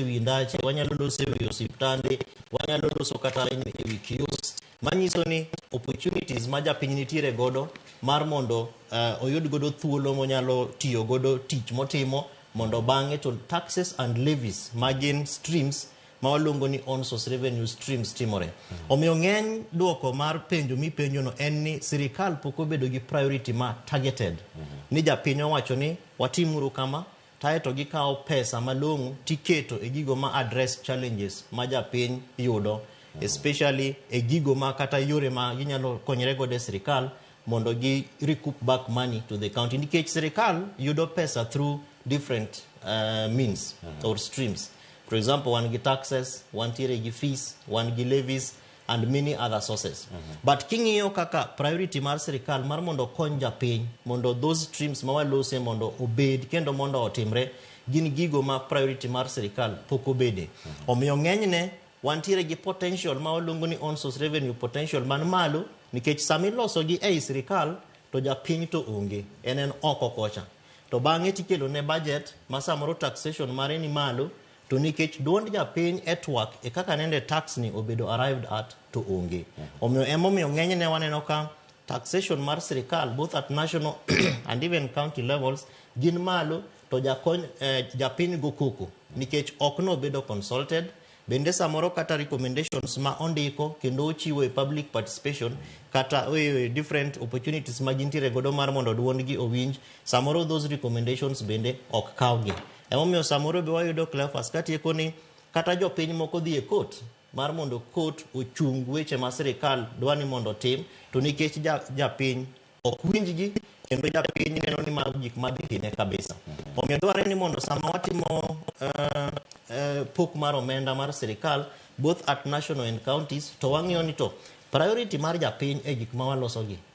e wi ndache wanyalo loso e wi osiptande wanyalo loso kata e e wi kios manyiso ni opportunities ma japiny nitiere godo mar mondo uh, oyud godo thuolo monyalo tiyo godo tich motimo mondo bang'e to taxes and levies ma gin streams ma waluongo ni on source revenue streams timore omiyo ng'eny dwoko mar penjo mipenjono en ni sirikal pok obedo gi priority ma targeted ni japiny owacho ni watimuru kama taeto gikawo pesa malong'o tiketo e gigo ma address challenges ma japiny yudo especially e gigo ma kata yore ma ginyalo konyre godo e sirikal mondo gi recoup back money to the county nikech sirikal yudo pesa through different uh, means or streams for example wan gi taxes wantiere gi fees wan gi levies and many other sources mm -hmm. but king'iyo kaka priority mar sirikal mar mondo okony japiny mondo those streams ma walose mondo obed kendo mondo otimre gin gigo ma priority mar sirikal pok obede mm -hmm. omiyo ng'enyne wantiere gi potential ma waluongo ni on source revenue potential man malo nikech sama ilosogi ei sirikal to japiny to onge en en oko kocha to bang'e tikelo ne budget ma samoro taxation mare ni malo to nikech duond japiny e twak e kaka nende tax ni obedo arrived at to onge omiyo emomiyo ng'enyne waneno ka taxation mar sirikal both at national and even county levels gin malo to jakony eh, japiny go koko nikech ok nobedo consulted bende samoro kata recommendations ma ondiko kendo ochiwo e public participation kata e different opportunities ma gintiere godo mar mondo duondgi owinj samoro those recommendations bende ok kawgi Emomiyo samoro be wayudo Cleophas katieko ni kata jopiny moko dhi e kot mar mondo kot ochung weche ma sirikal dwa ni mondo otim to nikech ja- japiny ok winjgi kendo japiny neno ni mago gik madhi hine kabisa omiyo dwarore ni mondo sama watimo eh, eh, pok mar omenda mar sirikal both at national and counties to wang'iyo ni to priority mar japiny e gik ma walosogi